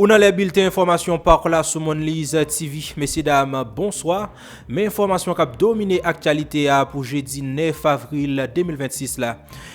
Ou nan lè bilten enfòmasyon pa Klas sou Monliz TV. Mesye dam, bonswa! Men enfòmasyon k ap domine aktyalite a pou jedi 9 avril 2026 la.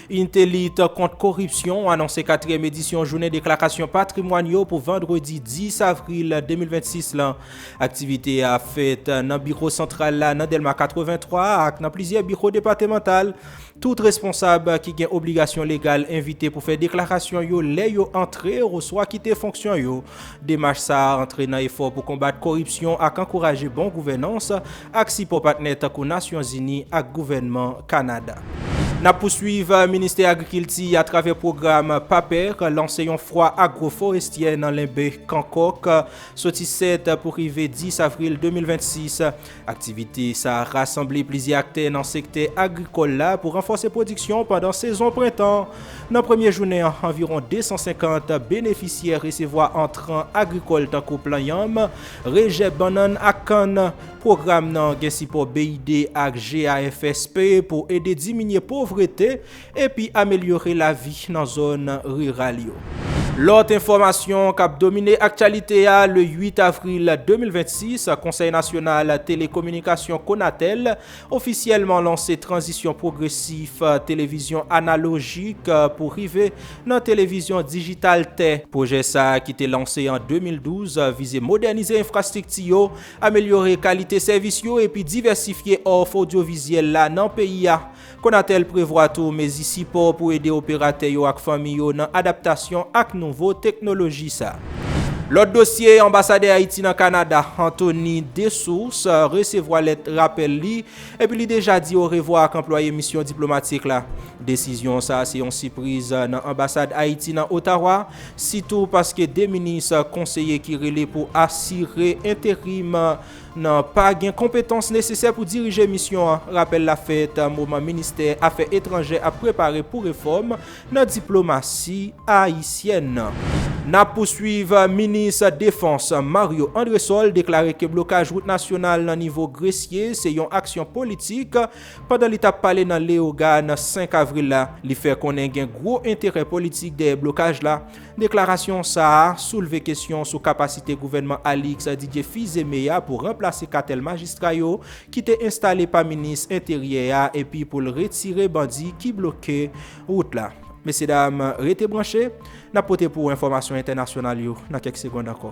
Inite lit kont koripsyon anonse katriyèm edisyon jounen deklarasyon patrimwàn yo pou vandredi 10 avril 2026 lan. Aktivite a ap fèt nan biwo santral la nan Dèlma 83 ak nan plizyè biwo depatemantal. Tout responsab ki gen obligasyon legal envite pou fè deklarasyon yo lè yo antre oswa kite fonksyon yo. Demach sa a antre nan efò pou konbat koripsyon ak ankouraje bon gouvènans, ak sipò patnè tankou Nasyonzini ak gouvènman Kanada. N ap pouswiv, Ministè Agrikilti, atravè pwogram PAPER, lanse yon fwa agwoforestyè nan Lenbe, Kankòk, soti 7 pou rive 10 avril 2026. Aktivite sa a rasanble plizyè aktè nan sektè agrikòl la pou ranfòse pwodiksyon pandan sezon prentan. Nan premye jounen an, anviwon 250 benefisyè resevwa entran agrikòl tankou plan yanm, rejè bannann ak kann. Pwogram nan gen sipò BID ak GAFSP pou ede diminye povrete epi amelyore lavi nan zòn riral yo. Lòt enfòmasyon k ap domine aktyalite a, le 8 avril 2026, Konsèy Nasyonal Telekominikasyon, Konatel, ofisyèlman lanse tranzisyon pwogresif televizyon analojik pou rive nan televizyon dijital tè. Pwojè sa a ki te lanse an 2012 vize modènize enfrastrikti yo, amelyore kalite sèvis yo epi divèsifye òf odyovizyèl la nan peyi a. Conatel prevwa tou mezi sipò pou ede operatè yo ak fanmi yo nan adaptasyon ak nouvo teknoloji sa. Lòt dosye, Anbasadè Ayiti nan Kanada, Anthony Dessources, resevwa lèt rapèl li, epi li deja di orevwa ak anplwaye misyon diplomatik la. Desizyon sa se yon sipriz nan anbasad Ayiti nan Ottawa, sitou paske 2 minis konseye ki rele pou asire enterim nan pa gen konpetans nesesè pou dirije misyon an. Rapèl la fèt moman ministè afè etranjè ap prepare pou refòm nan diplomasi ayisyèn. N ap pouswiv, Minis defans Mario Andresol deklare ke blokaj wout nasyonal nan nivo Gresye se yon aksyon politik. Pandan li t ap pale nan Leogane 5 avril la, li fè konnen gen gwo enterè politik dèyè blokaj la. Deklarasyon sa a soulve kesyon sou kapasite gouvènman Alix Didier Fils-Aimé a pou ranplase katèl majistra yo ki te enstale pa minis Enteryè a epi pou l retire bandi ki bloke wout la. Mesye dam, rete branche, n ap pote pou ou enfòmasyon entènasyonal yo nan kèk segond ankò.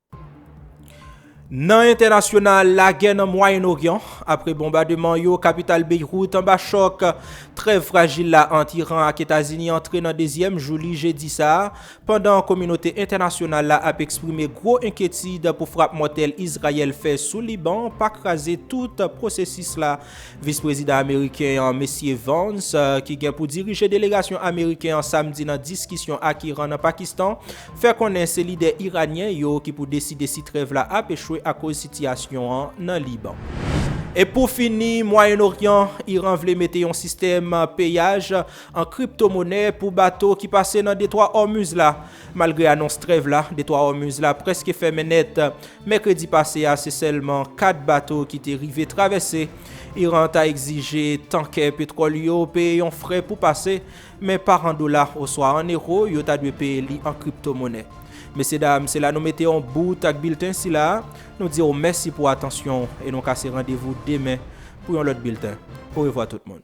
Nan entènasyonal, lagè nan Mwayen Oryan, apre bonbademan yo, kapital Beyrouth anba chòk, trèv frajil la ant Iran ak Etazini antre nan dezyèm jou li jedi sa a, pandan kominote entènasyonal la ap eksprime gwo enkyetid pou frap mòtèl Izrayèl fè sou Liban pa kraze tout pwosesis la. Vis Prezidan ameriken an, Mesye Vance, ki gen pou dirije delegasyon ameriken an samdi nan diskisyon ak Iran nan Pakistan, fè konnen se lidè iranyen yo ki pou deside si trèv la ap echwe akoz sitiyasyon an nan Liban. E pou fini, Mwayen Oryan, Iran vle mete yon sistèm peyaj an kriptomonè pou bato ki pase nan Detwa Òmuz la. Malgre anons trèv la, Detwa Òmuz la prèske fèmen nèt. Mèkredi pase a, se sèlman 4 bato ki te rive travèse. Iran ta egzije tankè petwòl yo peye yon frè pou pase, Men pa an dola oswa an ewo, yo ta dwe peye li an kriptomonè. Mesyedam, se la nou mete yon bout ak bilten sila a. Nou di w mèsi pou atansyon w e nou kase randevou demen pou yon lòt bilten. Orevwa tout moun.